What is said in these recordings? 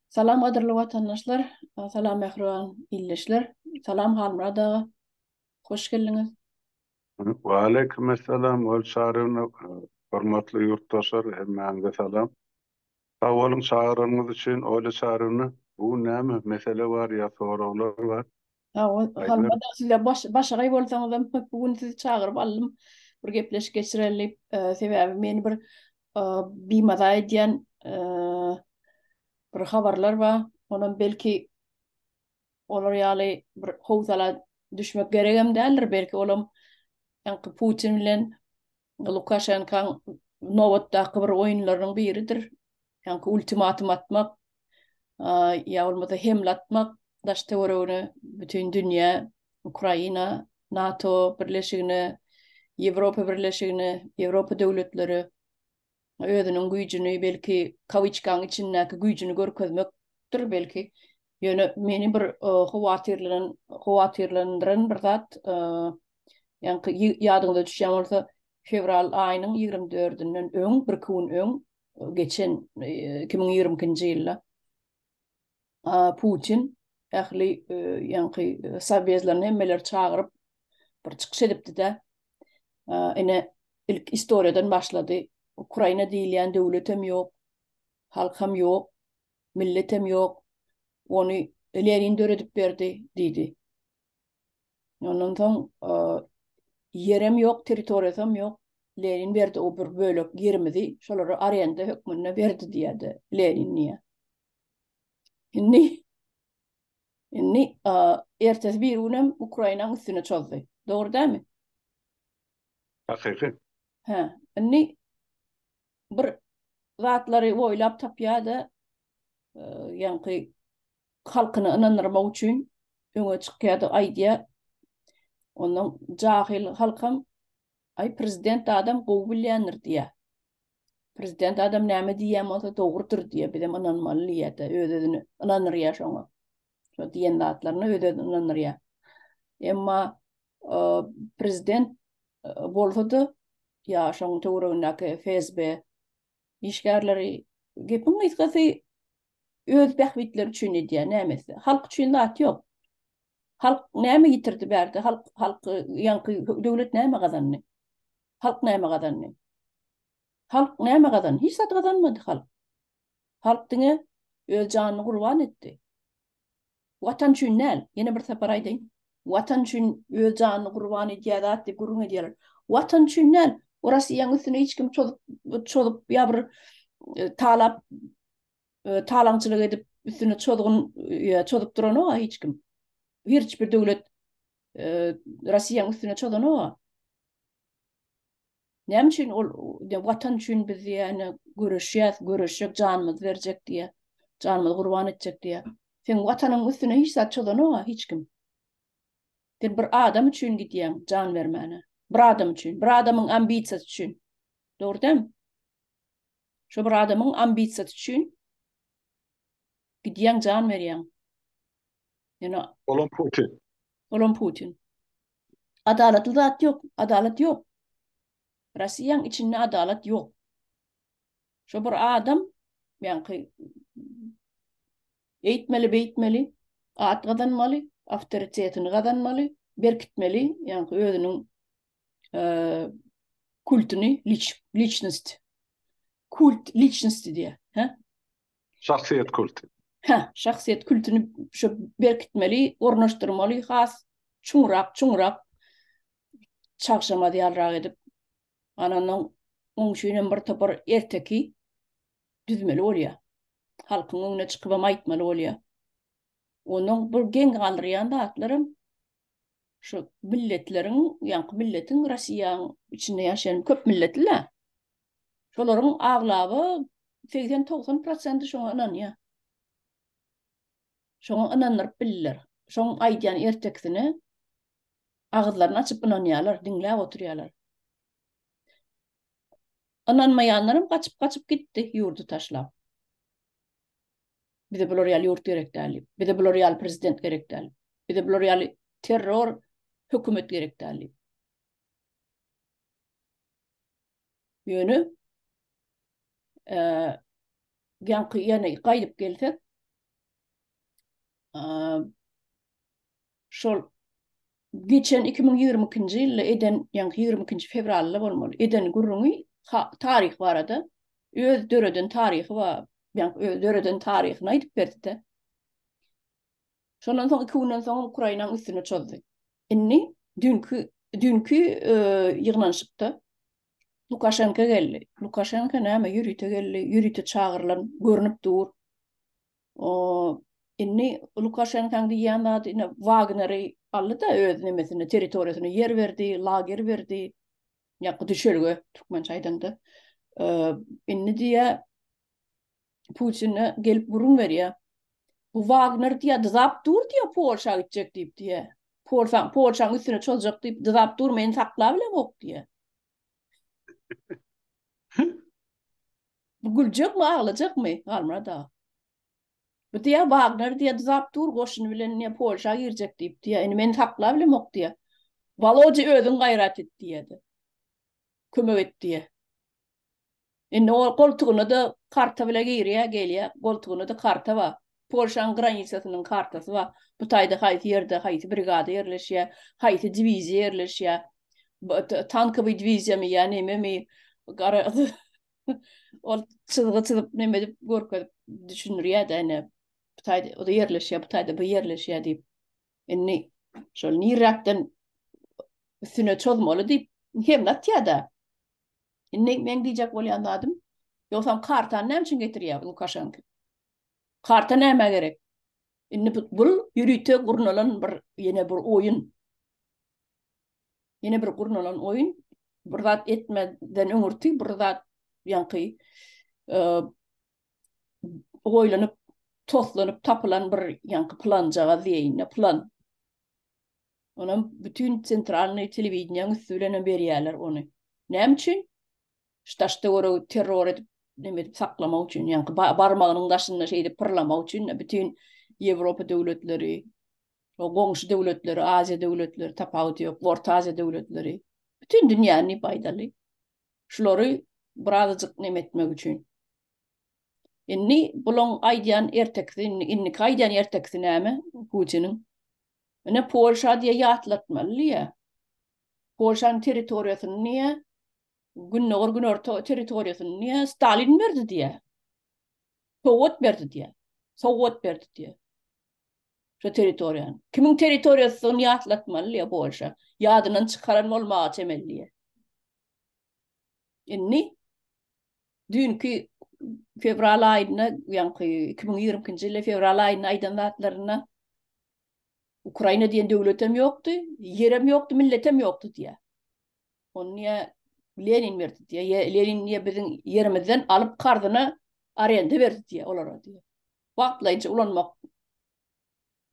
Salam gadyrly watandaşlar, salam mähriban ildeşler, salam Halmyrat aga, hoş geldiňiz. Waleýkim essalam Ol Çaryny, hormatly ýurtdaşlar hemmäňize salam. Sag boluň çagyranyňyz üçin Oly Çaryny. Bu gün näme mesele bar ýa soraglar bar? Hawa, galmadyk sizler başagaý bolsaňyzam bu gün sizi çagyryp aldym. Bir gepleşik geçireli, e, sebäbi meni bir e, bimaza edýän e, bir habarlar bar. Onam belki olar ýaly bir howsala düşmek geregem däldir. Belki olam ýaňky Putin bilen Lukaşenkaň nobatdaky bir oýunlarynyň biridir. Ýa-da ultimatum atmak, ýa bolmasa hemle atmak daş-töweregine bütin dünýä, Ukraina, NATO birleşigine, Ýewropa birleşigine, Ýewropa döwletleri özüniň güýjüni, belki kawiçkaň içindäki güýjüni görkezmekdir belki. Ýöne meni bir howatyrlanan, howatyrlandyran bir zat, ýaňky ýadyňyza düşýän bolsa, fewral aýynyň ýigrimi dördünden öň, birki gün öň geçen iki müň ýigrimi ikinji ýylda A Putin ähli ýaňky sowezlerini hemmeleri çagyryp bir çykyş edipdi-de, ine ilk istoriýadan başlady. Ukraina diýilýän döwlet hem ýok, halk hem ýok, millet hem ýok. Ony Lenin döredip berdi diýdi. Ondan soň ýer hem ýok, territoriýasy hem ýok. Lenin berdi o bir bölek ýerimizi, şolara arenda hökmünde berdi diýýärdi Lenin diýýär. Indi indi ertesi bir gün hem Ukrainanyň üstüne çozdy. Dogry dämi? Hakyky. Hä, indi bir zatlary oýlap tapýar-da, e, ýaňky halkyny ynandyrmak üçin öňe çykýar-da aýdýar. Ondan jahil halkam Aý prezident adam gowy bilýändir diýýä. Prezident adam näme diýýän bolsa dogrudyr diýýä, bizem ynanmaly diýýä-de, öz-özüni ynandyrýa şoňa. Şo diýen zatlaryna öz-özüni ynandyrýa. Emma prezident bolsa-da ýa şoň töweregindäki FSB işgärleri gepiň gysgasy öz bähbitleri üçin edýär näme etse halk üçin zat ýok halk näme ýitirdi bärde halk halky ýaňky döwlet näme gazandy halk näme gazandy halk näme gazandy hiç zat gazanmady halk halk diňe öz janyny gurban etdi Watan üçin däl, ýene bir sapar aýdaýyn, Watan üçin öz janyny gurban edýär zat diýip gürrüň edýärler. Watan üçin däl, Rosiýanyň üstüne hiç kim çozup çozup ýa bir talap talaňçylyk edip üstüne çozgun çozup duranok-a hiç kim. Hiç bir döwlet Rosiýanyň üstüne çozanok-a. Näme üçin ol Watan üçin biz diýýär, göreşýäs, göreşjek, janymyzy berjek diýýär. Janymyzy gurban etjek diýýär. Seň Watanyň üstüne hiç zat çozanok-a hiç kim. Sen bir adam üçin gidýäň jan bermäne. Bir adam üçin, bir adamyň ambisiýasy üçin. Dogry dämi? Şo bir adamyň ambisiýasy üçin gidýäň jan berýäň. Ýöne Olam Putin. Olam Putin. Adalatly zat ýok, adalat ýok. Rossiýaň içinde adalat ýok. Şo bir adam, ýaňky eýtmeli, beýtmeli, at gazanmaly, awtoritetini gazanmaly, berkitmeli, ýaňky özüniň kultyny, liçnost, kult liçnosti diýýär, hä? Şahsyýet kulty. Hä, şahsyýet kultyny şu berkitmeli, ornaşdyrmaly, has çuňrak, çuňrak çagşamaz ýalrak edip. Ana ondan muň üçin hem bir topar erteki düzmeli bolýar. Halkyň öňüne çykyp hem aýtmaly bolýar. Onuň bir geň galdyrýan zatlaram şu milletleriň, ýaňky milletiň Rossiýanyň içinde ýaşaýan köp milletli-le. Şolaryň aglaba segsen-togsan prosenti şoňa ynanýar. Şoňa ynandyryp bildiler. Şoň aýdýan ertekisine agyzlaryny açyp ynanýarlar, diňläp oturýarlar. Ynanmaýanlaram gaçyp-gaçyp gitdi ýurdy taşlap. Bize bular ýaly ýurt gerek däl diýip. Bize bular ýaly prezident gerek däl. Bize bular ýaly terror hökümet gerek däl diýip. Ýöne eee ýaňky ýene gaýdyp gelsek eee şol geçen 2022-nji ýylda eden ýaňky 22-nji fewralda bolmaly eden gürrüňi taryh barada öz döreden taryhy bar ýaňky öz döreden taryhyny aýdyp berdi-de Şondan soň iki günden soň Ukrainaň üstüne çozdy. Indi dünkü dünkü e, ýygnanyşykda Lukaşenko geldi. Lukaşenko näme ýörite geldi, ýörite çagyrylan görnüp dur. O indi Lukaşenkaň diýýän zady indi Wagneri aldy da öz nemesini, territoriýasyny ýer berdi, lager berdi. Ýa düşelge türkmençe aýdanda. Indi diýä Putinä gelip gürrüň berýär. Bu Wagner diýýär, dyzap dur diýýär, Polşa gitjek diýip diýýär. Polşa, Polşanyň üstüne çoljak diýip dyzap dur, meni saklap bilemok diýýär. Bu güljekmi, aglajakmy, Halmyrat aga? Bu diýýär, Wagner diýýär, dyzap dur, goşuny bilen diýýär, Polşa girjek diýip diýýär. Indi meni saklap bilemok diýýär. Walodya özüň gaýrat et diýýär-de. Kömek et diýýär. Indi ol goltugyna-da karta bile girýär, gelýär. Goltugyna-da karta bar. Polşanyň granisasynyň kartasy bar. Bu taýda haýsy ýerde haýsy brigada ýerleşýär, haýsy diwiziýa ýerleşýär. Tankowy diwiziýamy ýa nememi garagy ol çyzgy çyzyp neme edip görkezip düşündirýär-de ine bu taýda o ýerleşýär, bu taýda bu ýerleşýär diýip. Indi şol niräkden üstüne çozmaly diýip hem atýar-da. Indi meň diýjek bolýan zadym, ýogsam kartany näme üçin getirýär Lukaşenko? Karta näme gerek? Indi bu bul ýörite gurnalan bir ýene bir oýun. Ýene bir gurnalan oýun. Bir zat etmeden öňürti bir zat ýaňky e, oýlanyp, toslanyp tapylan bir ýaňky planjagaz diýeýin, plan. Onam bütin sentralnyý telewideniýäň üsti bilenem berýärler ony. Näme üçin? Ştaşda görä terror edip, näme edip saklamak üçin, ýaňky barmagynyň daşynda şeýdip pyrlamak üçin bütin Ýewropa döwletleri, o goňşy döwletleri, Aziýa döwletleri, tapawudy ýok, Orta Aziýa döwletleri, bütin dünýäni diýip aýdaly. Şulary birazajyk näme etmek üçin. Indi bulaň aýdýan ertekisi, indiki aýdýan ertekisi näme Putiniň? Ine Polşa diýe ýatlatmaly diýe. Polşanyň territoriýasyny diýe Gündogar Günorta territoriýasyny diýe Stalin berdi diýe. Sowgat berdi diýe. Sowgat berdi diýe. Şu territoriýany. Kimiň territoriýasydygyny ýatlatmaly diýe Polşa. Ýadyndan çykaran bolmaga çemeli diýe. Indi düýnki fewral aýynda, ýaňky 2022-nji ýyl fewral aýynda aýdan zatlarynda Ukraina diýen döwlet hem ýokdy, ýer hem ýokdy, millet hem ýokdy diýýär. Ony niýe Lenin berdi diýýär. Lenin niýe biziň ýerimizden alyp karzyna arenda berdi diýýär olara diýýär. Wagtlaýynça ulanmak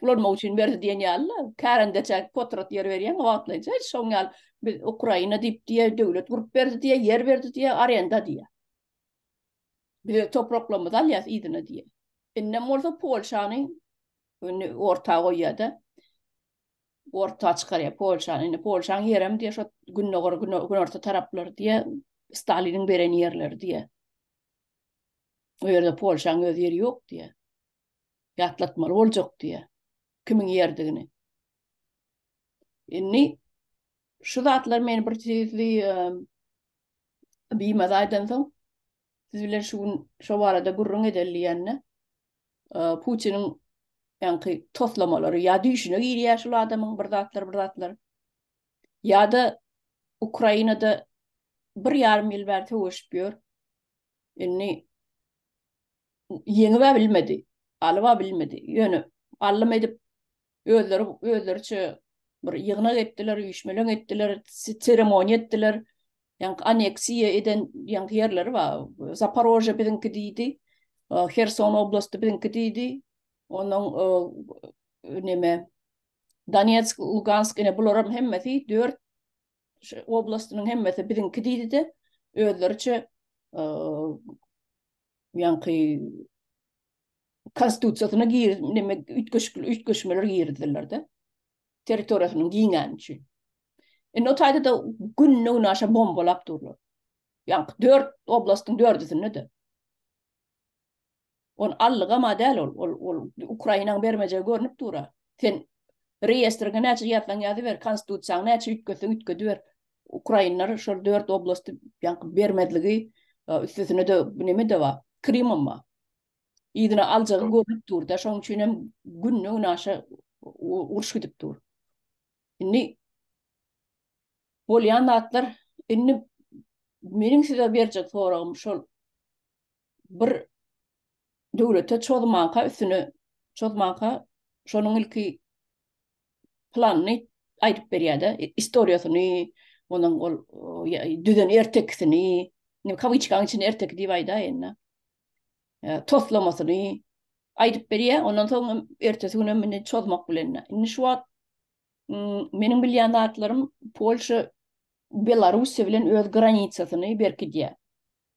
Ulanmak üçin berdi diýen ýaly-la, kärendeçä potrat ýer berýäň, wagtlaýynça şoň ýaly biz Ukraina diýip diýýä, döwlet gurup berdi diýýä, ýer berdi diýýä, arenda diýýä. Biz öz topraklarymyzy alýas yzyna diýýä. Indem bolsa Polşany indi orta goýýa-da, orta çykarýa Polşany. Indi Polşaň ýerem diýýä şo gündogar, günorta taraplar diýýä, Staliniň beren ýerleri diýýä. O ýerde Polşaň öz ýeri ýok diýýä. ýatlatmaly boljak diýýär. Kimiň ýerdigini. Indi şu zatlar meni bir tizli biýmaz aýdan soň siz bilen şu gün şu barada gürrüň edeli diýende Putiniň ýaňky toslamalary ýa düşüne girýär şu adamyň bir zatlar bir zatlar ýa-da Ukrainada bir ýarym ýyl bäri söweşip ýör. Indi ýeňib-ä bilmedi, alyp-a bilmedi. Ýöne allym edip, özleri özleriçe bir ýygnak etdiler, üýşmeleň etdiler, seremoniýa etdiler. Ýaňky aneksiýa eden ýaňky ýerleri bar, Zaparožýe biziňki diýdi, Herson oblasty biziňki diýdi, onnoň neme, Donetsk, Lugansk, ine, bularam hemmesi dört oblastynyň hemmesi biziňki diýdi-de, özleriçe ýaňky konstitusiýasyna gir, neme üýtgeşikli üýtgeşmeler girizdiler-de. Territoriýasynyň giňäni üçin. Indi o taýda da gününe gün aşa bombalap durlar. Ýaňky dört oblastyň dördüsinde de. On allyga ma däl ol, ol, ol Ukrainaň bermejegi görnüp dur-a. Sen reýestriňe näçe ýazsaň ýazyber, konstitusiýaňy näçe üýtgetseň üýtgediber. Ukrainler şol dört oblasty ýaňky bermezligi e, üstesine de neme de bar, Krymam bar. Ýygyna aljagy görlüp dur da, şoň üçin hem günde gün aşa uruş gidip dur. Indi bolýan zatlar, indi meniň size berjek soragym şol. bir döwlete çozmanka üstüne çozmanka şonuň ilki planyny aýdyp berýär-de, istoriýasyny, onuň ol düzen ertekisini, ne kawiçkaň içinde erteki diýip aýdaýyn-da. Toslamasyny aýdyp berýär, ondan soň ertesi gün hem indi çozmak bilen. Indi şu wagt meniň bilýän zatlarym Polşa Belarussiýa bilen öz granitsasyny berkidýär.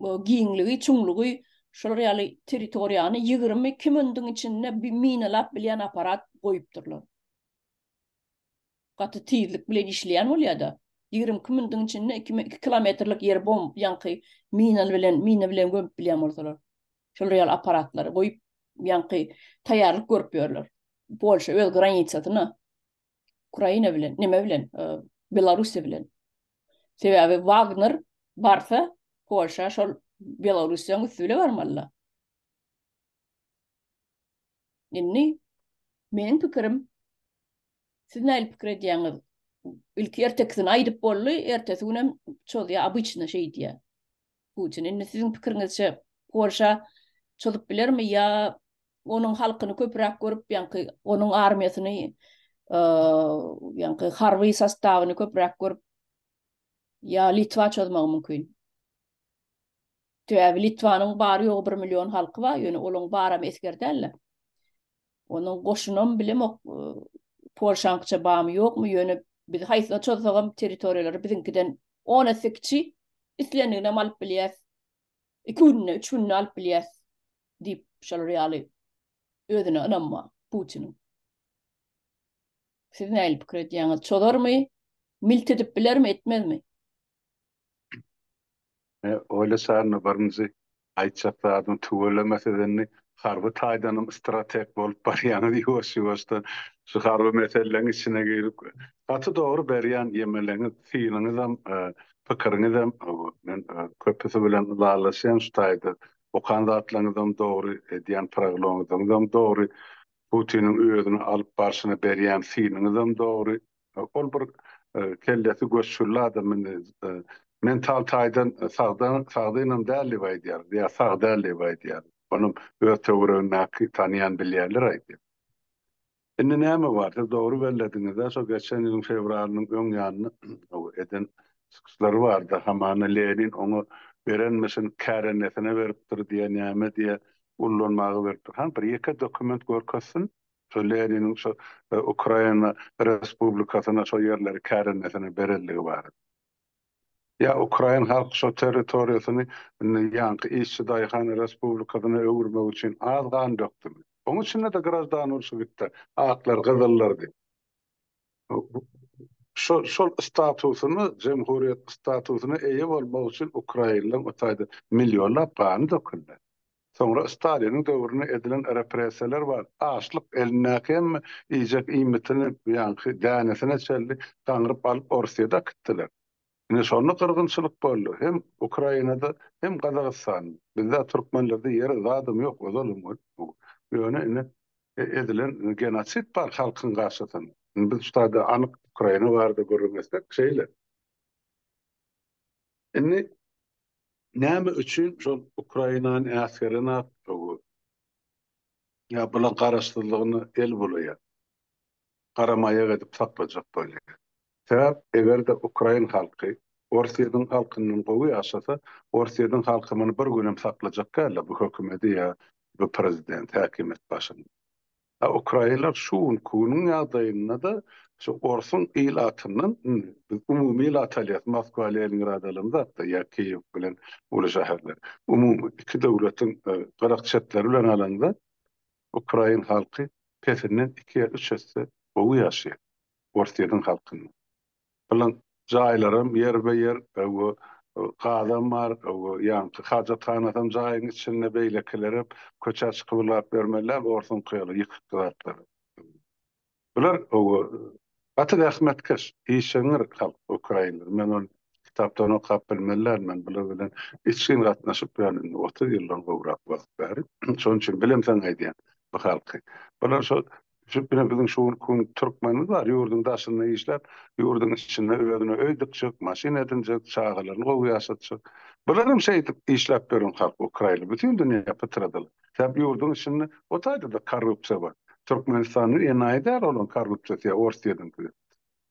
giňligi, çuňlugy şular ýaly territoriýany ýigrimi iki minutiň içinde minalap bilýän apparat goýupdyrlar. Gaty tizlik bilen işleýän bolýar-da. Ýigrimi iki minutiň içinde iki iki kilometrlik ýeri bomb ýaňky mina bilen mina bilen gömüp bilýän bolsalar. Şular ýaly apparatlary goýup, ýaňky taýýarlyk görüp ýörler. Polşa öz granitsasyna. Ukraina bilen, neme bilen, e, Belarusiýa bilen. Sebäbi Wagner barsa, Polşa şol Belarusiýanyň üsti bilen barmaly. Indi meniň pikirim, siz nähili pikir edýäňiz? Ilki ertekisini aýdyp boldy, ertesi günem çozýa, obýçny şeýdýä. Putin, indi siziň pikiriňizçe, Polşa çozup bilermi ýa onuň halkyny köpräk görüp, ýaňky onuň armiýasyny, ýaňky harby sostawyny köpräk görüp, ýa Litwa çozmagy mümkin? Sebäbi Litwanyň bary-ýogy bir million halky bar, ýöne olaň baramy esger däl-de. Onuň goşunam bilemok, Polşanyňça bamy ýokmy, ýöne biz haýsyna çozsagam territoriýalary biziňkiden on esse kiçi, islendiginem alyp bilýäs. Iki günde, üç günde alyp bilýäs diýip, şolar ýaly özüne ynamma Putiniň. Siz nähili pikir edýäňiz? Çozarmy? Milt edip bilermi, etmezmi? Ine, oýla Çarna, birinji aýtjak zadyň tüweleme siz indi harby taýdanam strateg bolup barýaňyz ýuwaş-ýuwaşdan şu harby meseleň içine girip gaty dogry berýän ýemeleňiz synyňyzam pikiriňizem men köpüsi bilen ylalaşýan şu taýda okan zatlaňyzam dogry edýän prognozyňyzam dogry Putiniň özüni alyp barşyna berýän synyňyzam dogry Ol bir kellesi göçgürli adam indi mental taýdan sagda sagdynam däl diýip aýdýar ýa sag däl diýip aýdýar. Onam öz töweregindäki tanýan bilýänler aýdýar. Indi näme bar siz dogry bellediňizä şo geçen ýylyň fewralynyň öň ýanyna eden çykyşlary bardy hamana Lenin oňa berenmişin kärendesinä beripdir diýä näme diýä ullanmaga beripdir hany bir ýeke dokument görkezsin Şol Leniniň şo Ukraina respublikasyna şo ýerleri kärendesinä berendigi barada. Ýa ukrain halky şo territoriýasyny indi ýaňky işçi daýhan respublikasyna öwürmek üçin az gan dökdümi? Oň içinde-de graždan urşy gitdi. Aklar, gyzyllar diýip. Şo şol statusyny, jemhuriýet statusyna eýe bolmak üçin ukrainleň o taýda millionlap gany döküldi. Soňra Staliniň döwründe edilen repressiýalar bar. Açlyk elindäki hemme iýjek iýmitini ýaňky dänesine çenli gaňryp alyp Orsyýada akitdiler. Ine şonda gyrgynçylyk boldy. Hem Ukrainada hem Gazagystanda. Bizde türkmenlerde ýere zadam ýok ozalym bu. Ýöne indi edilen genosid bar halkyň garşysynda. Indi biz ştada anyk Ukraina barada gürrüň etsek şeýle. Indi näme üçin şol Ukrainany äsgere nätdigi ýa bulaň garaşsyzlygyny el bulaýar, garamaýak edip saklajak bolýar. Sebäp eger-de ukrain halky Orsýetiň halkyndan gowy ýaşasa, Orsýetiň halky muny bir günem saklajak däldir, bu hökümeti ýa bu prezidenti, häkimiýet başynda. A ukrainler şu günki-günüň ýagdaýynda-da şu orsuň ilatyndan, indi biz umumy ilat alýas, Moskwa, Leningrad alamzak-da ýa Kiýew bilen uly şäherleri, umumy iki döwletiň gyrak çetleri bilen alanda, ukrain halky pesinden iki ýa üç esse gowy ýaşaýar Orsýetiň halkyndan. Bilen jaýlaram ýerbe-ýer öw-ü gazam bar, öw-ü ýaňky hajathanasam jaýyň içinde, beýlekilerem köçä çykyp ylgap bermeliler, orsuňky ýaly ýykykdy zatlar. Bular öw-ü gaty zähmetkeş, işeňňir halk ukrainler. Men ony kitapdan okap bilmelän, men bular bilen içgin gatnaşyp ýörün indi otuz ýyldan gowrak wagt bäri. Şonuň üçin bilemseň aýdýan bu halky. Bular şo Düşüp bilen biziň şu gün türkmenimiz bar, ýurduň daşynda işläp, ýurduň içinde özüne öý dikjek, maşyn edinjek, çagalaryny gowy ýaşatjak. Bularym şeýdip işläp ýören halk, ukrainler. Bütin dünýä pytradylar. Sebäbi ýurduň içinde o taýda-da korrupsiýa bar. Türkmenistanda enaýy däl olaň korrupsiýasy ýa orsýetiňki.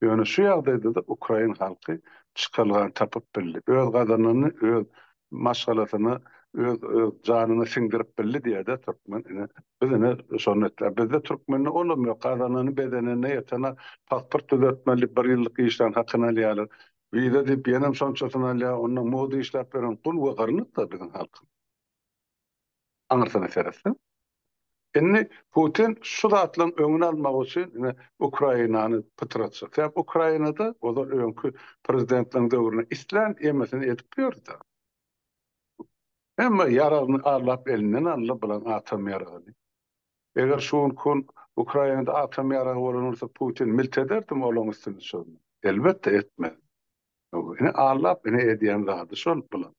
Ýöne şu ýagdaýda-da ukrain halky çykalgan tapyp bildi. Öz gazananyny öz maşgalasyna, öz janyna siňdirip bildi diýer-de türkmen. Ine, biz ine şony etýäris. Bizde türkmende olam ýok. Gazanany, bezeneni, eteni pasport düzetmeli, bir ýyllyk işlän hakyny alýarlar. Wiza diýip ýenem şonçasyny alýar. Onda moda işläp ýören gul we gyrnykdyr biziň halkymyz. Aňyrsyna seretseň. Indi Putin şu zatlaryň öňüni almak üçin ine Ukrainany pytratjak. Sebäbi Ukrainada ozal öňki prezidentleriň döwründe islän emmesini edip ýördi. Hemme ýaragyny arlap elinden aldy bulan atom ýaragyny. Eger şu günki gün Ukrainada atom ýaragy bolan bolsa Putin milt ederdimi olaň üstüne çözmän? Elbetde etmez. Ine Allap ine edýän zady şol bulan.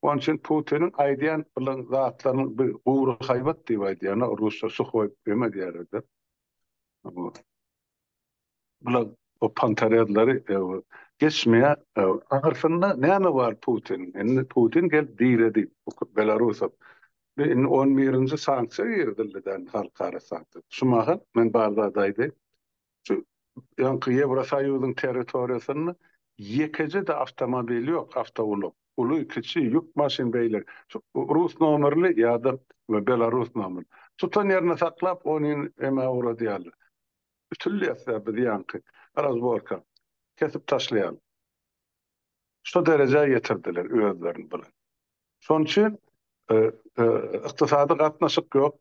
Onuň üçin Putiniň aýdýan bulan zatlarynyň bir gury haýbat diýip aýdýan o rusça suhoý ýeme diýerdi. Bular o pantarezleri geçmeýä. Ahyrsynda näme bar Putin? Indi Putin gelip diredi Belarusa. Indi on birinji sanksiýa girizildi däl halkara sanksiýa. Şu mahal men bar zady aýdaýyn. Şu ýaňky Ýewrosoýuzyň territoriýasynda ýekeje-de awtomobil ýok, awtoulag. Uly, kiçi, ýük maşyn beýle. Şu rus nomerli ýa-da belarus nomerli. Tutan ýerinde saklap, ony emä ugradýarlar. Ütülýär-de biz ýaňky. Razborka. Kesip taşlaýarlar. Şu derejä ýetirdiler özlerini bilen. Şonuň üçin ykdysady gatnaşyk ýok.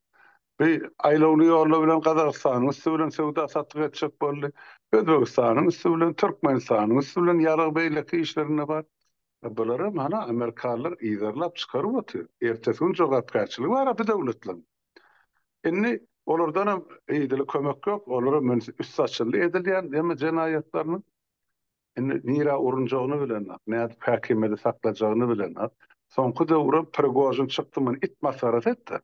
Bi aýlawly ýollar bilen Gazagystanyň üsti bilen söwda-satyk etjek boldy. Özbegistanyň üsti bilen, Türkmenistanyň üsti bilen ýarag beýleki işlerinde bar. Bulary mana amerikalylar yzarlap çykaryp otyr. Ertesi gün jogapkärçiligi bar-a bi döwletleriň. Indi olardanam yzyly kömek ýok. Olara münsi üsti açyldy edilýän jenaýatlarynyň. Indi nirä urunjagyny bilenok, nädip häkimiýeti saklajagyny bilenok. Soňky döwürem Prigožin çykdy muny it masgarasy etdi.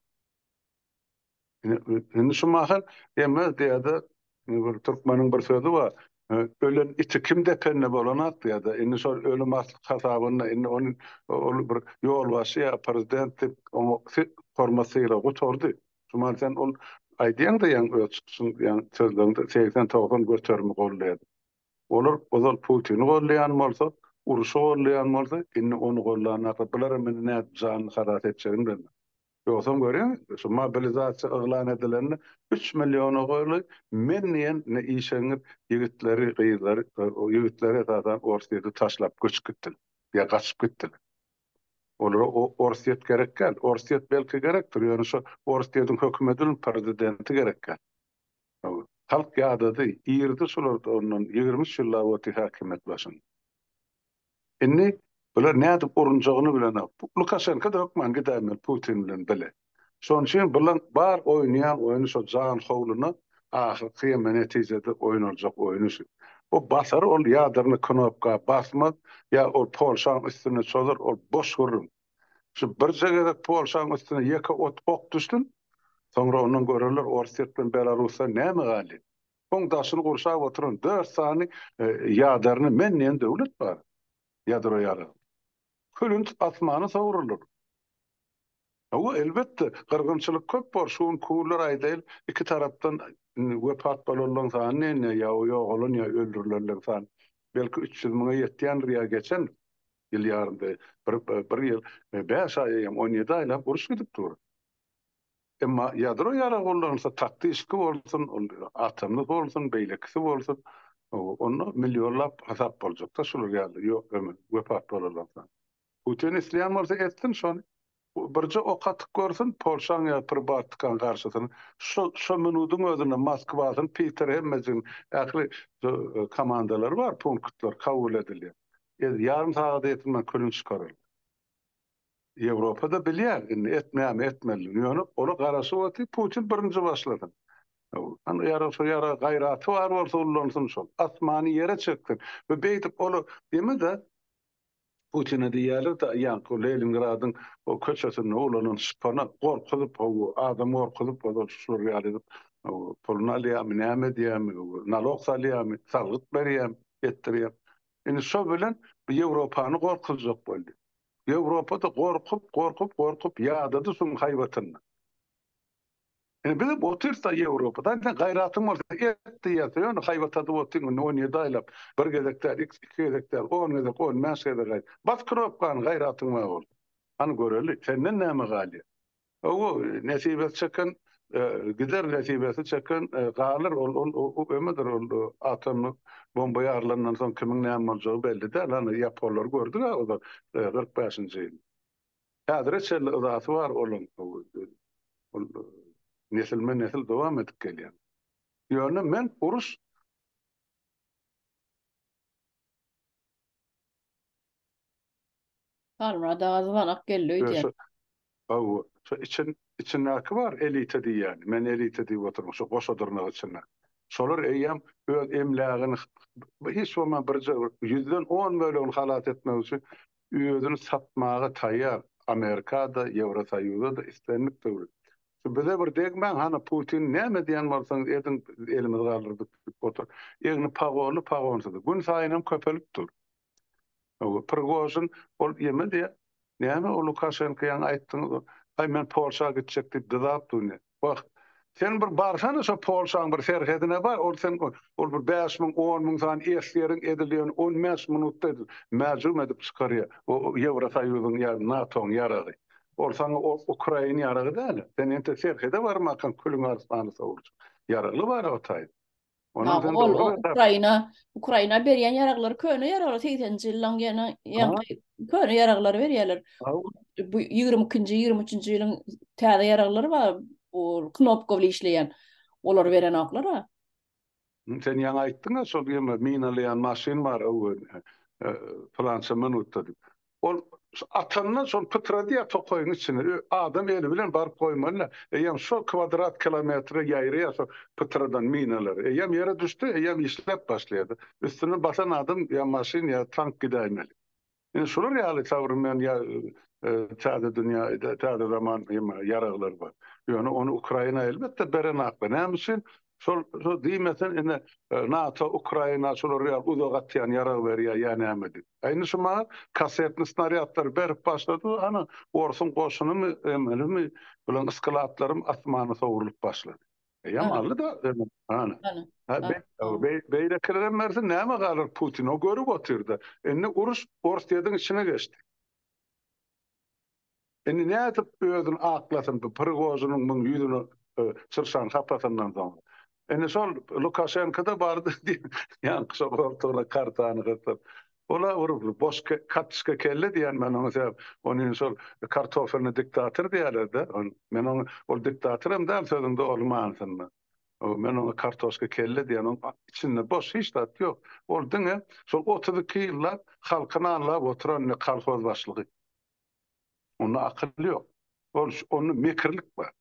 Indi şu mahal Emez diýýärdi, bir türkmeniň bir sözi bar, Ölen iti kim depende bolanak diýýärdi. Indi şol ölüm hasabyna indi ony ol bir ýolbaşçy ýa prezident diýip oňa hormat-sylag gutardy. Şu mahal sen ol aýdýaň-da ýaňy öz çykyşyňda ýaňy sözleriňde segsen-togsan göterimi goldaýar. Olar ozal Putini gollaýan bolsa, uruşy gollaýan bolsa, indi ony gollanaka bularam indi nädip janyny halas etjegini bilmez. Ýogsam görýäň, şu mobilizasiýa yglan edilende üç milliona goly men diýen indi işeňňir ýigitleri, gyzlary, ýigitleri esasan Orsýeti taşlap göçüp gitdiler ýa gaçyp gitdiler. Olara Orsýet gerek däl. Orsýet belki gerekdir, ýöne şo Orsýetiň hökümediniň prezidenti gerek däl. Halk ýadady, irdi şular ondan ýigrimi üç ýyllap oty häkimiýet başyn. Indi bular nädip urunjagyny bilenok. Lukaşenko-da hökman gidäýmeli Putin bilen bile. Şonuň üçin bulaň bar oýnaýan oýny şo jan howluna ahyrky ýeme netijede oýnaljak oýny şu. O basar ol ýadyryny knopka basmaz ýa ol Polşaň üstüne çozar ol boş gürrüň. Şu birje gezek Polşaň üstüne ýeke ot ok düşsün, soňra ondan görerler Orsýet bilen Belarusdan näme galýan. Oň daşyny gurşap oturan dört sany ýadarny men diýen döwlet bar. Ýadro ýarag. Külünt asmana sowrular. Hawa, elbetde, gyrgynçylyk köp bor, şu gün kürler aýdaýyl iki tarapdan wepat bolanlaň sany nenne, ýa ýogalan, ýa öldürilenleň sany belki üç ýüz müňe ýetýändir ýa geçendir. Ýyl ýarymda bir ýyl bäş aý hem on ýedi aýlap uruş gidip dur. Emma ýadro ýarag ullanylsa taktişki bolsun, atomly bolsun, beýlekisi bolsun, onda millionlap hasap boljakda şular ýaly ýok ömür wepat bolalardan. Putin isleýän bolsa etsin şony. Birje ok atyp görsün Polşaň ýa Pribaltikaň garşysyna. Şo şo minudyň özünde Moskwasyn, Piter hemmejigin ähli komandalary bar, punktlar kabul edilýär. Ez ýarym sagada ýetin bilen külün çykarylýar. Ýewropada bilýär indi etmeýärmi etmelidigini. Ýöne ola garaşyp otyr Putin birinji başlasyn. Indi ýarag şo ýaraga gaýraty bar bolsa ullansyn şol. Asmany ýere çeksin. Be beýdip ola deme-de. Putine diýýärler-de, ýaňky Lelingradyň o köçesinde ulanan şpana gorkuzyp, hawa, adam gorkuzyp, ozal şular ýaly edip, hawa, puluny alýarmy, näme edýärmi, hawa, nalog salýarmy, salgyt berýärmi, etdirýärmi. Indi şo bilen bu Ýewropany gorkuzjak boldy. Ýewropa-da gorkup, gorkup, gorkup ýadady şoň haýbatyny. Indi biz hem otyrsda Ýewropada, indi sen gaýratyň bolsa et diýersiň, ýöne haýbat adyp otyň indi on ýedi aýlap, bir gezek däl, iki gezek däl, on gezek, on bäş gezek aýt. Bas kropkany gaýratyň bar bolsa. Hany göreli, senden näme galýar? Hawa, nesibesi çeken gider, nesibesi çeken galar, ol ömüdir, ol atom bomba ýarylandan soň kimiň näme boljagy belli däl, hany ýaponlary gördük-ä ozal kyrk bäşinji ýyl. Häzire çenli yzasy bar olaň ol nesilme nesil dowam edip gelýän. Ýöne men uruş. Halmyrat aga zybanak geldi öýdýän. Hawa, şo için içindäki bar elita diýýäni. Men elita diýip oturmyň şo goşa dyrnak içinde. Şolar eýýäm öz emlägini hiç bolman birje bir ýüzden on bölegini halas etmek üçin özüni satmaga taýýar Amerikada Ýewrosoýuzada islendik döwlet şu bize bir degmäň hany Putin näme diýen bolsaňyz ediň biz elimizi galdyrdyk diýip otur egni pagolly pagonsyzy gün saýynam köpelip dur o Prigožin ol ýeme diýä näme o Lukaşenko ýaňy aýtdyňyz o aý men Polşa gitjek diýip dyzap dur indi. Wah, sen bir barsana şo Polşaň bir serhedine bar, ol sen ol bir bäş müň, on müň sany esgeriň edilýäni on bäş minutda edil, mäjum edip çykarýar, o Ýewrosoýuzyň ýa NATO-nyň ýaragy. Ol saňa o ukrain ýaragy däl-ä. Sen entek serhede barmakaň külüň arslany sowulja. Ýaragly bara otaýyn. Ondan ol Ukraina, Ukraina berýän ýaraglary köne ýaraglar 80-nji ýyllaryň ýene ýaňky köne ýaraglary berýärler. Bu 22-nji, 23-nji ýylyň täze ýaraglary bar, bu knopkawly işleýän. Olar berenoklar. Sen ýaňy aýtdyň-a, şol ýene minalaýan maşyn bar, öwez, plança minutda diýip. Ol atandan soň pytrady ýa tokaýyň içine. Adam eli bilen baryp goýmaly-da. Eýýäm şol kwadrat kilometre ýaýraýar şo pytradan minalar. Eýýäm ýere düşdi, eýýäm işläp başlaýar-da. Üstünden basan adam ýa maşyn ýa tank gidäýmeli. Indi şular ýaly sowremen ýa täze dünýä, täze zaman ýaraglar bar. Ýöne ony Ukraina elbetde berenakda. Näme üçin? Şol şo diýmesen indi NATO Ukraina şolar ýa uzak atýan ýarag berýär ýa näme diýip. A indi şu maňa kassetny snarýadlary berip başlady hany orsuň goşunymy emelimi bilen yskylaplarym asmana sowrulyp başlady. Eýýam aldy da hany. Beýlekilerem berse näme galar Putin o görüp otyrda. Indi uruş Orsýetiň içine geçdi. Indi nädip özüni aklasyn bu Prigožiniň müň ýüzüni çyrşan sapasyndan soň. Indi şol Lukaşenko-da bardy diýip, ýaňky şol goltugyna kartany gysyp, ol-a bir boş katçka kelle diýýän men oňa sebäp ony indi şol kartofelny diktator diýýäler-dä. Men oňa ol diktator hem däl sözüňde ol manysynda. Men oňa kartoşka kelle diýýän oň içinde boş hiç zat ýok. Ol diňe şol otuz iki ýyllap halky nanlap oturan kolhoz başlygy. Onda akyl ýok. Ol onda mekirlik bar.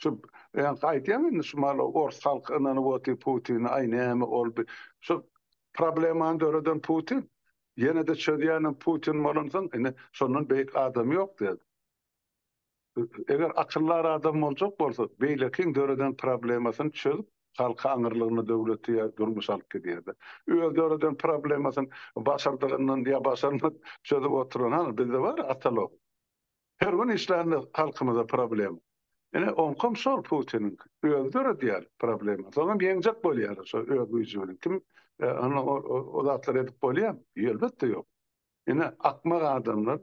Şu ýa-da aýdýan indi şu maly ors halky ynanyp otyr Putine aý näme ol bir şu problemany döreden Putin. Ýene-de çözýänem Putin bolansoň indi şondan beýik adam ýok däl. Eger akyldar adam boljak bolsa, beýlekiň döreden problemasyny çözüp, halky aňyrlygyna döwleti ýa durmuşy alyp gidýärdi. Öz döreden problemasyny başardygyndan ýa başarman çözüp oturan hany bizde bar atalog. Her gün işlände halkymyza problema. Ine oňkam şol Putiniňki. Özi döredýär problema. Soňam ýeňjek bolýarlar şo öz güýji bilen. Kim o zatlary edip bolýamy? Elbetde ýok. Ine akmak adamlar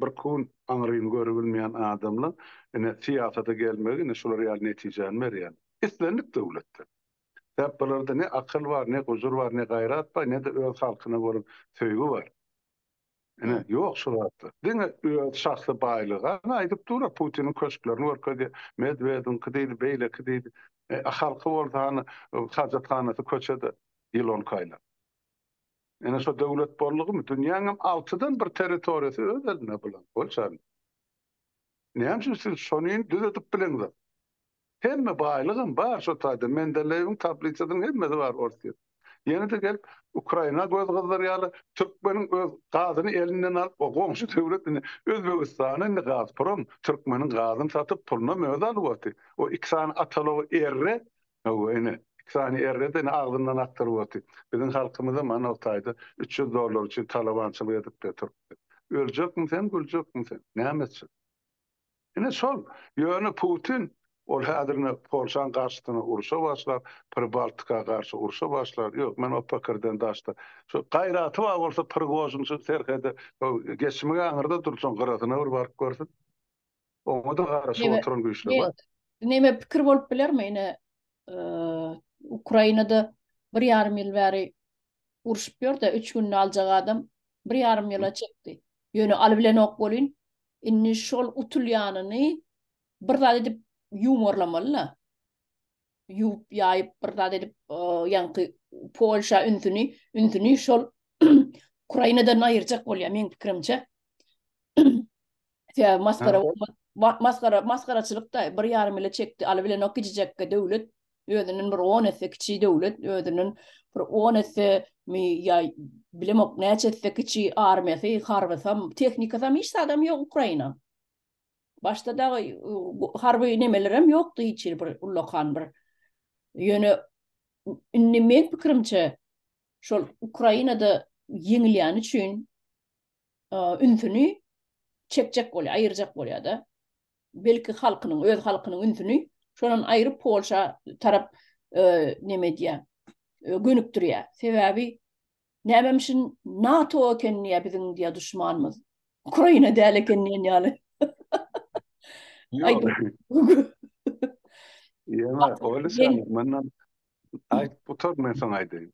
Bir kun aňryny görebilmeýän adamlaň ine syýasata gelmegi ine şular ýaly netijäni berýär. Islendik döwletde. Sebäp bularda ne akyl bar, ne gujur bar, ne gaýrat bar, ne-de öz halkyna bolan söýgi bar. Ine, ýok şu zatlar. Diňe öz şahsy baýlygy. Ana aýdyp dur-a, Putiniň köşklerini görkezýär. Medwediňki diýdi, beýleki diýdi. E, a halky bolsa hany, hajathanasy köçede ýylan kaýlap. Ene şo döwlet boldugymy dünýäň hem altydan bir territoriýasy öz elinde bulan bolçany. Näme üçin siz şonyn düzedip bileňzok. Hemme baýlygam bar şo taýda Mendeleýewiň tablisasynyň hemmesi bar Orsýet. Ýene-de gelip Ukraina göz gyzdyrýarlar. Türkmeniň öz gazyny elinden alyp o goňşy döwlet indi Özbegistana indi Gazprom türkmeniň gazyny satyp pulunam özi alyp otdy. O iki sany atalogy erre Hawa, ene, iki sany errede ene agzyndan akdyryp otyr. Biziň halkymyzam ana o taýda üç ýüz dollar üçin talabançylyk edip-de turupdy. Öljekmi sen, güljekmi sen? Näme üçin? Ene, şol. Ýöne Putin, ol häzir ine Polşaň garşysyna urşa başlar, Pribaltika garşy urşa başlar. Ýok, men o pikirden daşda. Şo gaýraty bar bolsa Prigožin şu serhede, şo geçmegi aňyrda dursun, gyrasyna bir baryp görsün. Oňa-da garaşyp oturan güýçler bar. Näme pikir bolup bilermi? Ine, Ukrainada bir ýarym ýyl bäri urşup ýör-de, üç günde aljak adam bir ýarym ýyla çekdi. Ýöne alybilenok welin, indi şol utulýanyny bir zat edip ýuwmarlamaly-la. ýuwup ýaýyp bir zat edip ýaňky polşa ünsüni ünsüni şol ukrainadan aýyrjak bolýar meň pikirimçe ýa maskara maskara maskaraçylyk da bir ýarym ile çekdi aly bilen ok gijekge döwlet özünden bir 10 esse kiçi döwlet özünden bir 10 esse mi ýa bilemok näçe esse kiçi armiýasy harbysam tehnikasam hiç zadam ýok ukraina Başda da harby nemelerem ýokdy hiç ýer bir ullakan bir. Ýöne indi men pikirimçe şol Ukrainada ýeňilýän üçin ünsüni çekjek bolýar, aýyrjak bolýar da. Belki halkynyň, öz halkynyň ünsüni şolan aýryp Polşa tarap neme edýär, gönükdirýär. Sebäbi Nämemişin NATO eken diýýä biziň diýýä duşmanymyz. Ukraina däl eken diýen ýaly. Ýa oýly sen menden aýt gutar men soň aýdaýyn.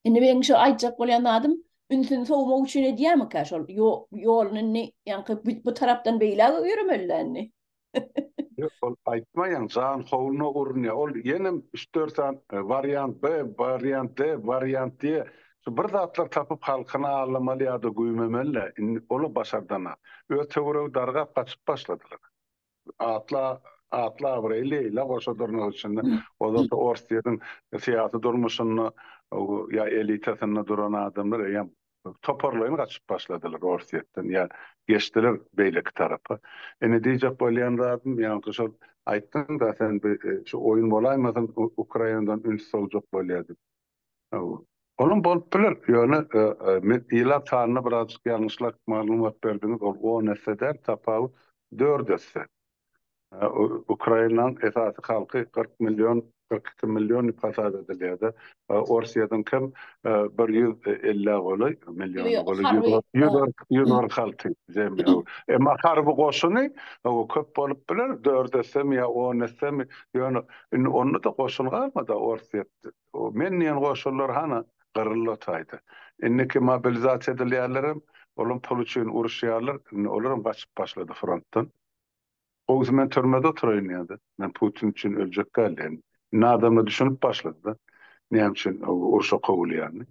Indi meň şu aýtjak bolýan zadym ünsüni sowmak üçin edýärmikä şol ýoluny indi ýaňky bu tarapdan beýläge ýöremeli-dä indi. Ýok, ol aýtmaýan, jan howluna urunýar. Ol ýenem üç-dört sany e, wariant B, wariant D, wariant diýe şu bir zatlar tapyp halkyny aldamaly ýa-da güýmemeli-le. Indi ol-a başardana. Öz töweregi dargap gaçyp başladylar. Atly atly abraýly Leýla goşa durnak üçin-de, o zat Orsýetiň syýasy durmuşynda ýa elitasynda duran adamlar eýýäm Toparlaýyn gaçyp başladylar Orsýetden, ýa geçdiler beýleki tarapa. Indi diýjek bolýan zadym, ýaňky şol aýtdyň-da sen bi şu oýun bolaýmasyn Ukrainadan üns sogjak bolýar diýip. Olam bolup biler, ýöne men ilat sanyna birazjyk ýalňyşlap maglumat berdiňiz, ol on esse däl, tapawut dört esse. Ukrainanyň esasy halky kyrk million, kyrk iki million diýip hasap edilýär-de. Orsýetiňki hem bir ýüz ellä golaý milliona golaý, ýüz kyrk, ýüz kyrk, ýüz kyrk alty zemýa. Emma harby goşuny köp bolup biler, dört essemi ýa on essemi, ýöne indi onda-da goşun galmady-a Orsýetde. O men diýen goşunlar hana, gyryldy o taýda. Indiki mobilizasiýa edilýänlerem, olam pul üçin uruşýarlar, indi olar hem gaçyp başlady frontdan. Gowusy men türmede oturaýyn ýa-da men Putin üçin öljek däl diýen nadama düşünip başlady-da, näme üçin urşa kowulýanyny.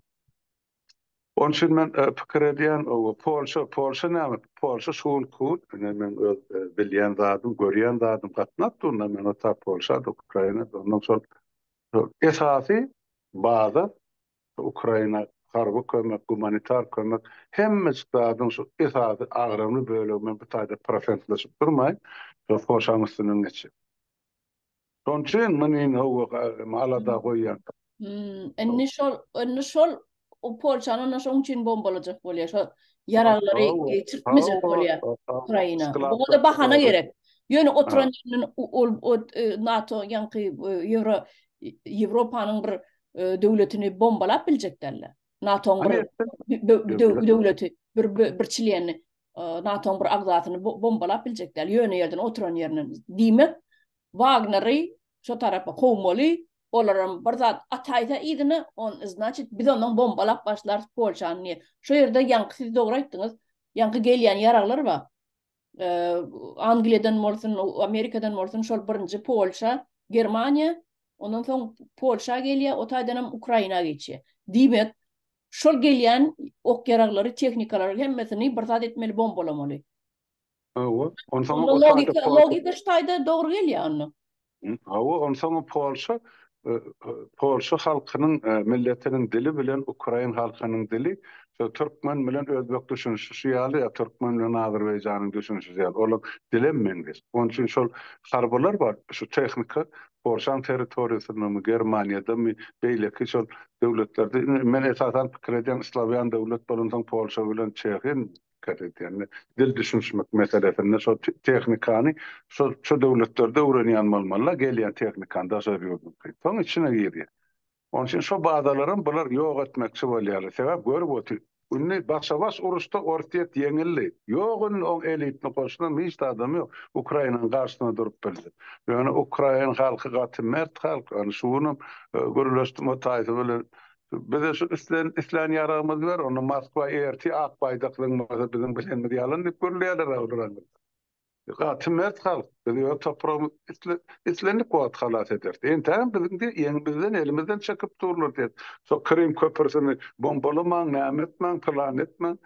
Onuň üçin men pikir edýän, Polşa, Polşa näme, Polşa şugun kugun, ine meň öz bilýän zadym, görýän zadym gatnap durna men ota Polşa-da, Ukraina-da, ondan soň esasy baza Ukraina harby kömek, gumanitar kömek hemme zadyň şu esasy agramly bölegi men bu taýda prosentleşip durmaýyn, şol foşaň üstünden geçýän. Şonuň üçin men indi howwa alada goýýan. Indi şol, indi şol o Polşany onda şonuň üçin bombalajak bolýar, şo ýaraglary geçirtmejek bolýar Ukraina. Muňa-da bahana gerek. Ýöne oturan ýerinden ol NATO ýaňky Ýewro Ýewropanyň bir e, döwletini bombalap biljek däller. NATO-nyň bir döwleti, bir bir çileni e, NATO-nyň bir agzasyny bombalap biljek däl. Ýöne ýerden oturan ýerinden diýmek, Wagneri şu tarapa kowmaly, olaram bir zat ataýsa yzyna, on значит biz onuň bombalap başlar Polşany. Şu ýerde ýaňky siz dogry aýtdyňyz. Ýaňky gelýän ýaraglar bar. Angliýadan bolsun, Amerikadan bolsun, şol birinji Polşa, Germaniýa, ondan soň Polşa gelýär, o taýdan hem Ukraina geçýär. Diýmek, şol gelýän ok ýaraglary, tehnikalary hemmesini bir zat etmeli, bombalamaly. Hawa, onsoň o taýda logika şu taýda dogry gelýär onda. Hawa, onsoňam Polşa Polşa halkynyň milletiniň dili bilen ukrain halkynyň dili şo türkmen bilen özbek düşünişişi ýaly ýa türkmen bilen azerbaýjanyň düşünişişi ýaly olar dilem meňzeş. Onuň üçin şol harbylar bar, şu tehnika Polşaň territoriýasyndamy, Germaniýadamy, beýleki şol döwletlerde men esasan pikir edýän slawýan döwlet bolansoň Polşa bilen Çehiýa dikkat edýän. Dil düşünişmek meselesinde şol tehnikany şol şu döwletlerde öwrenýän bolmalylar, gelýän tehnikany daşary ýurduňky. Soň içine girýär. Onuň üçin şo bazalaram bular ýok etmekçi bolýarlar. Sebäp görüp otyr. Indi başa-baş uruşda Orsýet ýeňildi. Ýok indi oň elitni goşunan hiç de adam ýok. Ukrainanyň garşysyna durup bildi. Ýöne ukrain halky gaty mert halk. Ony şu günüm gürleşdim o taýsa bilen. Bize şu islen islän ýaragymyzy ber, onda Moskwa erti ak baýdak zyňmasa biziň bilenimiz ýalan diýip gürleýärler agzybiragzyndan. Gaty mert halk, biz öz topragymyzy islendik wagt halas ederis. Entägem biziň diýip ýeňi bizden elimizden çekip durlar diýip, şo Krym köprüsini bombalamaň, näme etmäň, pylany etmäň.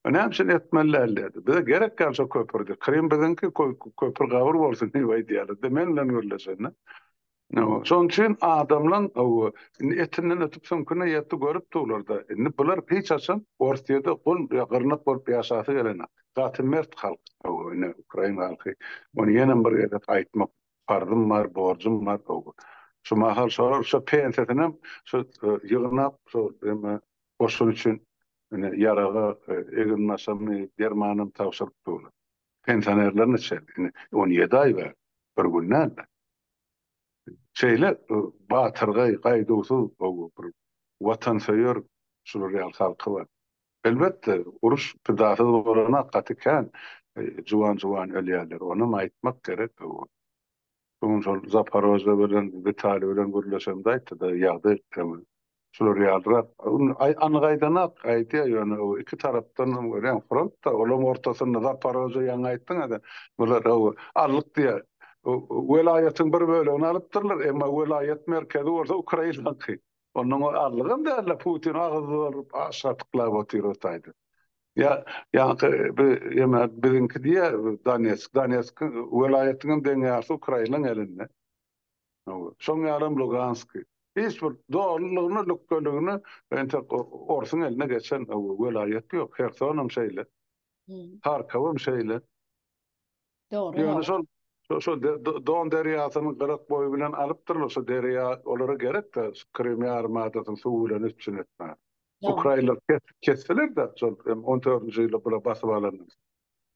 Näme üçin etmeli däl diýdi. Bize gerek däl şo köprüdi. Krym biziňki, köpri gabyr bolsun diýip aýdýarlar. Men bilen gürleşende. Şonuň üçin adamlaň indi etinden ötüp süňküne ýetdi görüp durlar-da. Indi bular hiç haçan Orsyýede gul ýa gyrnak bolup ýaşasy gelenok. Gaty mert halk indi ukrain halky. Muny ýenem bir gezek aýtmak parzym bar, borjum bar. Şu mahal şolar şo pensiýasynyam şo ýygnap şo eme goşun üçin ýaraga eginbaşammy, dermanam tabşyryp durlar. Pensionerler neçe? Indi on ýedi aý bar, bir gün däl-de. Şeýle batyrgaý, gaýduwsyz, bir watansöýer şular ýaly halky bar. Elbetde, uruş pidasyz bolana gaty kän juwan-juwan ölýärler, onam aýtmak gerek. Bu gün şol Zaporojýe bilen, Witali bilen gürleşemde aýtdy-da, ýagdaý hem şular ýalyrak. Indi aý anyk aýdanak aýdýar, ýöne o iki tarapdan hem görýän front-da, olaryň ortasynda Zaporojýe ýaňy aýtdyňyz-da, bular o aldyk diýýär. Welaýatyň bir bölegini alypdyrlar, emma welaýat merkezi bolsa Ukrainaňky. Onuň azlygam däldir, Putin agyz bolup aşa tyklap otyr otaýdy. Ýa, ýaňky bi, ýeme biziňki diýýär, Donetsk, Donetsk welaýatyň hem deň ýarysy Ukrainaň elinde. Hawa, şoň ýalam Luganski. Hiç bir dolulygyna, lükdeligine entek orsuň eline geçen welaýat ýok. Hersonam şeýle. Harkowam şeýle. Dogry. Ýöne şol şo Don derýasynyň gyrak boýy bilen alypdyrlar şo derýa olara gerekde Krym ýarym adasyny suw bilen üpjün etmäge. Ukrainler kesdiler-de şol hem on dördünji ýylda bula basyp alanda.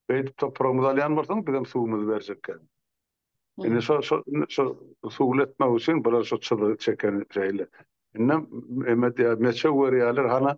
Beýdip topragymyzy alýan bolsaň bizem suwumyzy berjekkäň. Indi şo şo şo suwly etmek üçin bular şo çyzygy çeken şeýle. Indem emet ýa meçew berýärler hana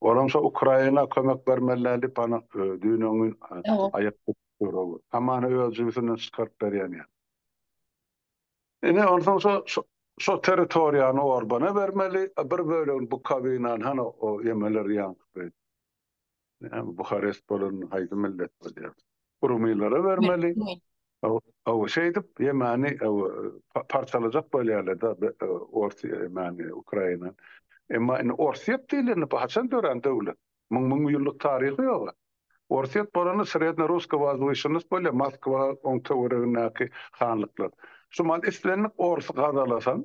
Olam şo Ukraina kömek bermeliler diyip ana düýnen gün aýak tutdurdy. Hamany öz jübüsinden çykaryp berýän ýaly. Ine onsoň şo şo territoriýany Orbana bermeli, bir bölegini Bukowinany hany o ýemeler ýaňky. Näme Buharest bolan haýsy millet bolýar? Rumylara bermeli. Aw, şeýdip Ýemeni parçalajak bolýarlar-da Orsiýa, Ýemeni, Ukraina. Emma indi Orsýet diýilende bu haçan dörän döwlet? Müň müň ýyllyk taryhy ýog-a. Orsýet bolanda Srednýorusskiý Wazwyşennost bolýar, Moskwa, oň töweregindäki hanlyklar. Şu mahaly islendik orsy gazalasaň,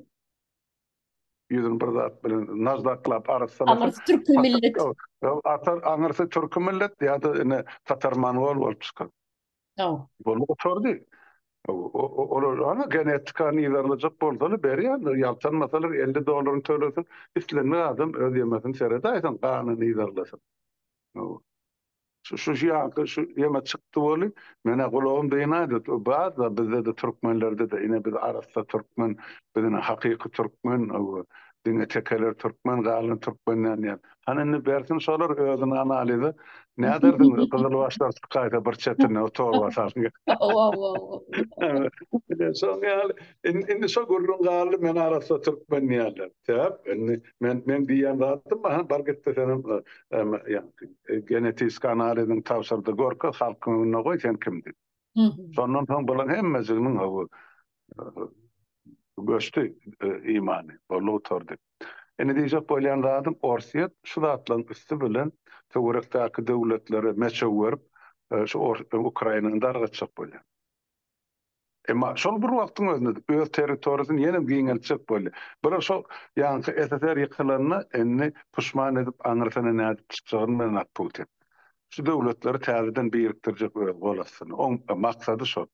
Ýüzüni bir zat bilen najdaklap, arassalasa. Aňyrsy türki millet. Atar, aňyrsy türki millet ýa-da ine tatar-mongol bolup çykar. Hawa. Bolup gutardy. Olar hany genetikany yzarlajak bolsalar berýärler, ýaltanmasalar elli dollaryny tölesin, islendik adam öz ýemesini seredaýsin, ganyny yzarlasyn. Şu şu şu ýaňky şu ýeme çykdy weli menä gulagym dynady o barda bizdede türkmenlerdede ine biz arassa türkmen biz ine hakyky türkmen owo diňe tekeler türkmen galan türkmenler diýen hany indi bersin şolar özüni analize näderdiň gyzyl başlar çykaýsa bir çetine o torba salyn owo owo owo şoň ýaly indi şo gürrüň galdy men arassa türkmen diýerler sebäp indi Men men diýen zatym aha bar gitdi sen genetik analiziň tabşyrdy görke halkyň öňüne goý sen kim diýip. Şondan soň bulan hemmejiginiň hawy göçdi imany bolly gutardy. Indi diýjek bolýan zadym Orsýet şu zatlaryň üsti bilen töwerekdäki döwletlere meçew berip şu Ukrainany dargatjak bolýar. Emma şol bir wagtyň özünde-de öz territoriýasyny ýenem giňeltjek bolýar. Bular şol ýaňky SSR ýykylanda indi puşman edip aňyrsyna nädip çykjagyny bilenok Putin. Şu döwletleri täzeden birikdirjek öz gol astynda. Oň maksady şol.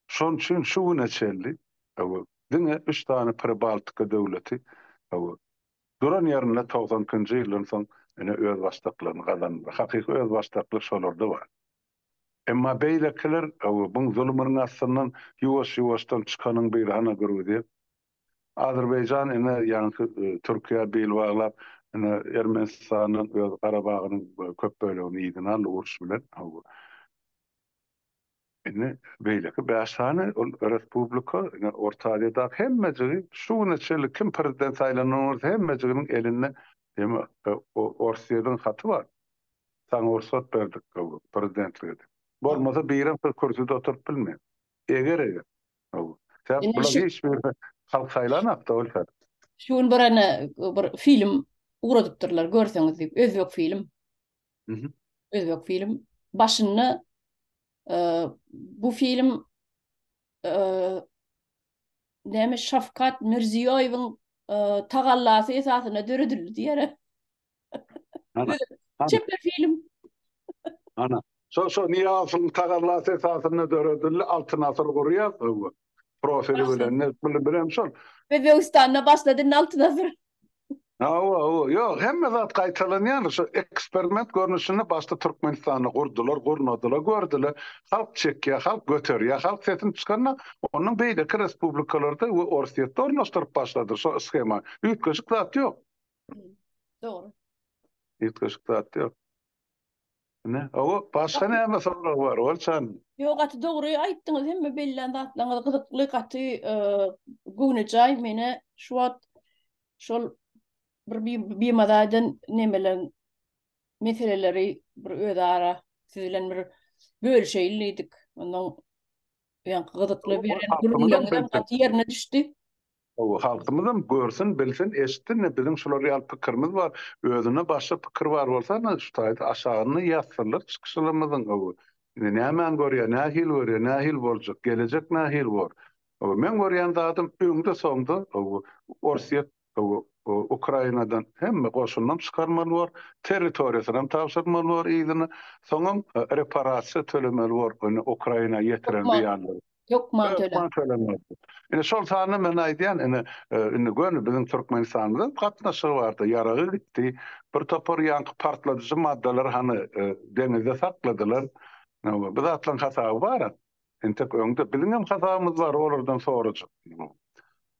Şonuň üçin şu güne çenli, hawa, diňe üç sany Pribaltika döwleti, hawa, duran ýerinde togsan ikinji ýyldan soň ine özbaşdaklygyny gazandylar. Hakyky özbaşdaklyk şolarda bar. Emma beýlekiler Öwebiň zulumynyň astyndan ýuwaş-ýuwaşdan çykanyň bir hana Gruziýa, Azerbaýjan ine ýaňky Türkiýä bil baglap ine Ermenistandan öz Garabagynyň köp bölegini yzyna aldy uruş bilen Öwe. Indi beýleki bäş sany ol respublika ine Orta Aziýadaky hemmejigi şu güne çenli kim prezident saýlanan bolsa hemmejiginiň elinde eme Orsýediň haty bar. Saňa rugsat berdik hawa, prezidentlik edip. Bolmasa birem bir kürsüde oturyp bilmen. Eger eger. Hawa. Sebäp bular hiç birini halk saýlanakda ol sebäp. Şu gün bir ene bir film ugradypdyrlar görseňiz diýip özbek film. Mhm. Özbek film. Başynda bu film näme Şafkat Mirziýoýewiň tagallasy esasynda döredildi diýýär. Ana, ana. Çeper film. Ana. Şo şo Niýazowyň tagallasy esasynda döredildi. Altyn asyr gurýar öwgü. Profili bilen ne bilen bilen şol. Özbegistanda başlady indi altyn asyr. Hawa, hawa. Ýok, hemme zat gaýtalanýar. Şo eksperiment görnüşinde başda Türkmenistanda gurdular, gurnadylar, gördüler. Halk çekýär, halk göterýär, halk sesini çykaranda onuň beýleki respublikalarda we Orsýetde ornaşdyryp başladylar şo skeman. Üýtgeşik zat ýok. Dogry. Ýetgeşik zat ýok. Ne? Awa, başga näme sorag bar, Olçan? Ýok, gaty dogry aýtdyňyz, hemme bellän zatlaryňyz gyzykly, gaty göwnejaý. Meni şu wagt şol bir bimaza eden nemeler, meseleleri bir özara siz bilen bir bölüşeýin diýdik. Ondan ýaňky gyzykly beren gürrüňleriňiz gaty ýerine düşdi. Gowy, halkymyzam görsün, bilsin, eşitsin, ine, biziň şular ýaly pikirimiz bar, özünde başga pikir bar bolsa, ine, şu taýda aşagynda ýazsynlar çykyşlarymyzyň, gowy. Indi nämäni görýär, nähili görýär, nähili boljak, gelejek nähili bor? Gowy, meň görýän zadym, öňde-soňda, gowy, Orsýet, gowy, Ukrainadan hemme goşunynam çykarmaly bor, territoriýasynam tabşyrmaly bor yzyna, soňam reparasiýa tölemeli bor, ine, Ukraina ýetiren zyýanlary. Hökman töle. Hökman tölemek. Ine şol sanda men aýdýan, ine e, indi göni biziň Türkmenistanymyzyň gatnaşygy barda ýaragy gitdi. Bir topar ýaňky partladyjy maddalar hany e, deňizde sakladylar. Bu zatlaryň hasaby bar. Entek öňde biziň hem hasabymyz bar, olardan sorajak.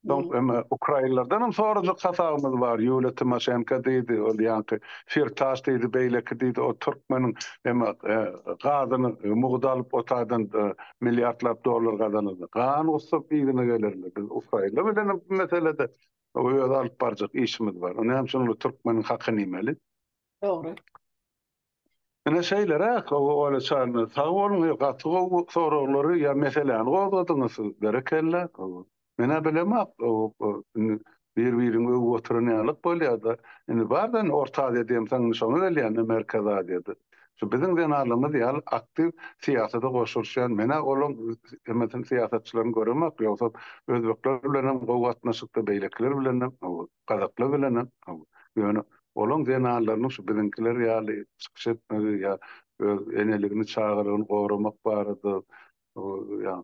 Soň indi ukrainlerden hem sorajak hasabymyz bar. Ýuliýa Timoşenko diýdi, ol ýaňky Firtaş diýdi, beýleki diýdi, o türkmeniň indi e, gazyny e, mugt alyp otadan e, milliardlap dollar gazanyldy. Gan gussap yzyna gelerler. Biz ukrainler bilen hem bu meselede öz alyp barjak işimiz bar. Näme üçin ol türkmeniň hakyny iýmeli? Dogry. Ine şeýleräk Ola çarna sag boluň he gaty gowy soraglary ýa meseläni gozgadyňyz siz berekella menä bilemok indi bir biriňi öwüp oturan ýalyk bolýada indi barda indi orta aziýa diýemsoň indi şoňa gelýända merkezi aziýada şu biziň zenanlarymyz ýaly aktiw syýasada goşulyşýan menä olaň hemmesini syýasatçylaryň göremok ýogsam özbekler bilenem gowy gatnaşykda beýlekiler bilenem owal. Gazaklar bilen ýöne olaň zenanlarynyň şu biziňkiler ýaly çykyş etmegi ýa öz eneligini çagalygyny goramak barada ýa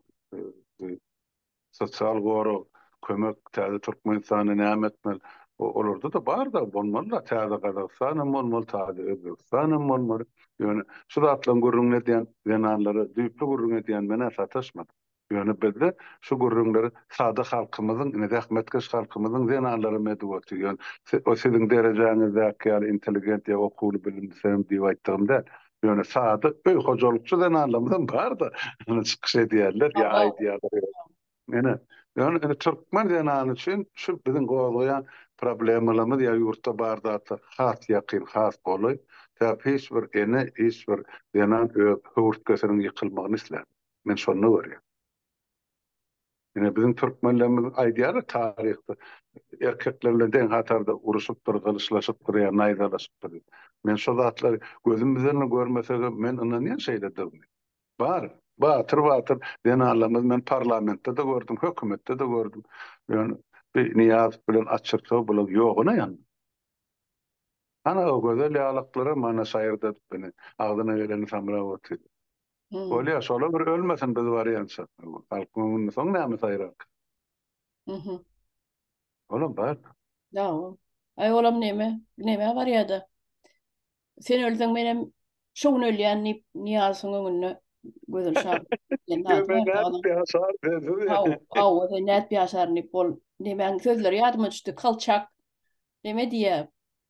sosial gorag kömek täze Türkmenistanda näme etmeli olarda da bar da bolmaly da täze Gazagystan hem bolmaly taze Özbegistan hem bolmaly ýöne şu zatlaryň gürrüňini edýän zenanlara düýpli gürrüň edýän menä sataşmadym. Ýöne bizde şu gürrüňleri sada halkymyzyň, ine, zähmetkeş halkymyzyň zenanlaram edip otur. Ýöne o siziň derejäňizdäki ýaly intelligent ýa okuwly, bilimlisem diýip aýtdygym däl. Ýöne sada öý hojalykçy zenanlarymyzam bar-da, ine, çykyş edýärler ýa aýdýarlar. Ine, ýöne indi türkmen zenany üçin şu biziň gozgaýan problemalarymyz ýa ýurtda bar zatlar has ýakyn, has golaý. Sebäbi hiç bir ene, hiç bir zenan öz höwürtgesiniň ýykylmagyny islän. Men şonda görýän. Ine biziň türkmenlerimiz aýdýarlar taryhda erkekler bilen deň hatarda uruşypdyr, gylyçlaşypdyr ýa naýzalaşypdyr diýip. Men şo zatlary gözüm bilen görmesegem men ynanýan şeýledigine. Bar, batyr batyr zenanlarymyz men parlamentde-de gördüm, hökümetde-de gördüm. Ýöne bi Nyýazow bilen Açyrsow bular ýoguna ýan. Hany o gözel ýalaklara mana şaýyrdadyp ine agzyna geleni samrap otyr. Bolýar, şolar bir ölmesin biz barýança. Halk öňünde soň näme saýrarka? Mhm. Olam bar. Ýa-o. Aý olam näme? Nämä barýar-da? Sen ölseň menem şu gün ölýän diýip Nyýazowyň öňünde gözüni şaryp. Hawa, sen nädip ýaşaryn diýip ol. Nämäň sözleri ýadyma düşdi. Kolçak näme diýýär?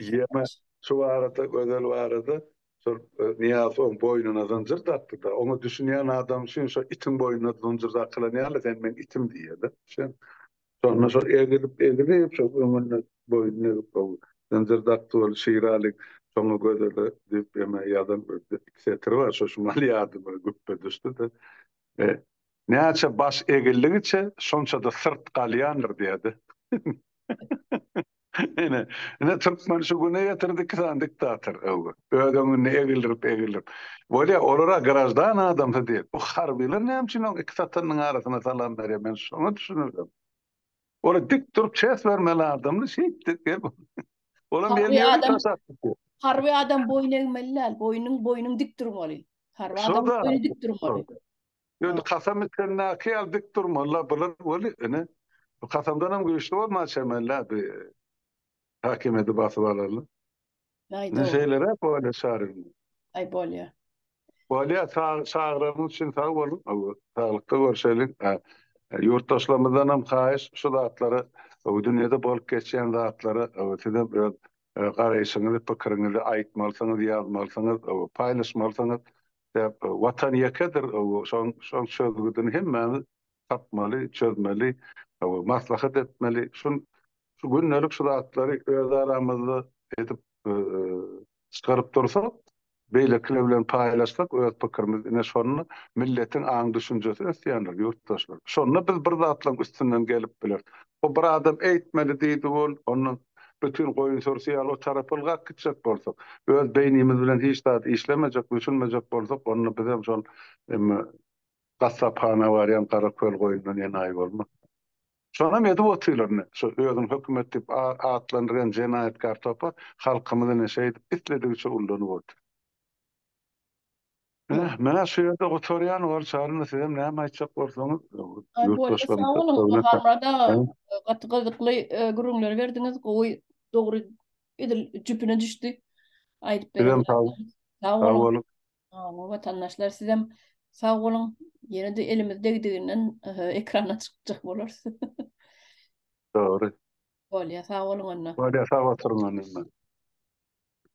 Ýene şu barada, Gözel barada, şol Nyýazow oň boýnuna zynjyr dakdy-da, oňa düşünýän adam üçin şo itiň boýnuna zynjyr dakylan ýaly, sen meň itim diýýär-de. Şem. Şonda şo egilip, egilip, şo öňüne boýnuna egip, o zynjyr dakdy ol Şiraly şoňa Gözele diýip ýene ýazan bir iki setir bar, şo şumal ýadyma güpbe düşdi-de. E, Näçe baş egildigiçe, şonça-da syrt galýandyr diýýär-de. Ine, ine türkmen şu güne getirdi iki sany diktator öwgi. Öz öňünde egildirip, egildirip. Bolýa, olara graždan adamsy diýip. Bu harbylar näme üçin oň iki satynyň arasyna salam berýär, men şoňa düşünemedim. Ola dik durup çes bermeli adamdy, şeýt dik ep. Olam elini öwrüp taş atyp. Harby adam boýun egmeli däl, boýnuň boýnuň dik durmaly. Harby adam boýny dik durmaly. Ýöne kasam içendäki ýaly dik durmaly-la bular weli, ine, bu kasamdanam güýçli bolmaly çemeli-ä bi häkimiýeti basyp alarly. Aý, dogry. Şeýleräk bolýa çaryň. Aý, bolýa. Bolýa, sag, çagyranyň üçin sag boluň. Hawa, saglykda görşeliň. A, ýurtdaşlarymyzdanam haýyş, şu zatlary, bu dünýede bolup geçýän zatlary, hawa, sizem öz garaýşyňyzy, pikiriňizi aýtmalysyňyz, ýazmalysyňyz, hawa, paýlaşmalysyňyz. Sebäp Watan ýekedir şoň çözgüdini hemmämiz tapmaly, çözmeli, maslahat etmeli. Şu gündelik şu zatlary öz aramyzda edip çykaryp dursak, beýlekiler bilen paýlaşsak öz pikirimizi ine şonda milletiň aň-düşünjesi ösýändir ýurtdaşlar. Şonda biz bir zatlaryň üstünden gelip bileris. Bu bir adam eýtmeli diýdi ol, ondan bütin goýun sürüsi ýaly o tarap ylgap gitjek bolsak, öz beýnimiz bilen hiç zat işlemejek, düşünmejek bolsak, onda bizem şol gassaphana barýan gara köl goýundan enaýy bolmarys. Şonam edip otyrlar ine, şu özüni hökümet diýip atlandyrýan jenaýatkar topar halkymyzy ine şeýdip isledigiçe ullanyp otyr. Heh, men şu ýerde gutarýan, ol çaryna sizem näme aýtjak bolsaňyz, ýurtdaşlaryň sag Gaty gyzykly gürrüňler berdiňiz, gowy, dogry, edil jüpüne düşdi. Aýdyp beren. Sag boluň. Watandaşlar sizem sag boluň. Ýene-de elimiz degdiginden ekrana çykjak bolarys. Dogry. Bolýa, sag boluň onda. Bolýa, sag oturyň onda.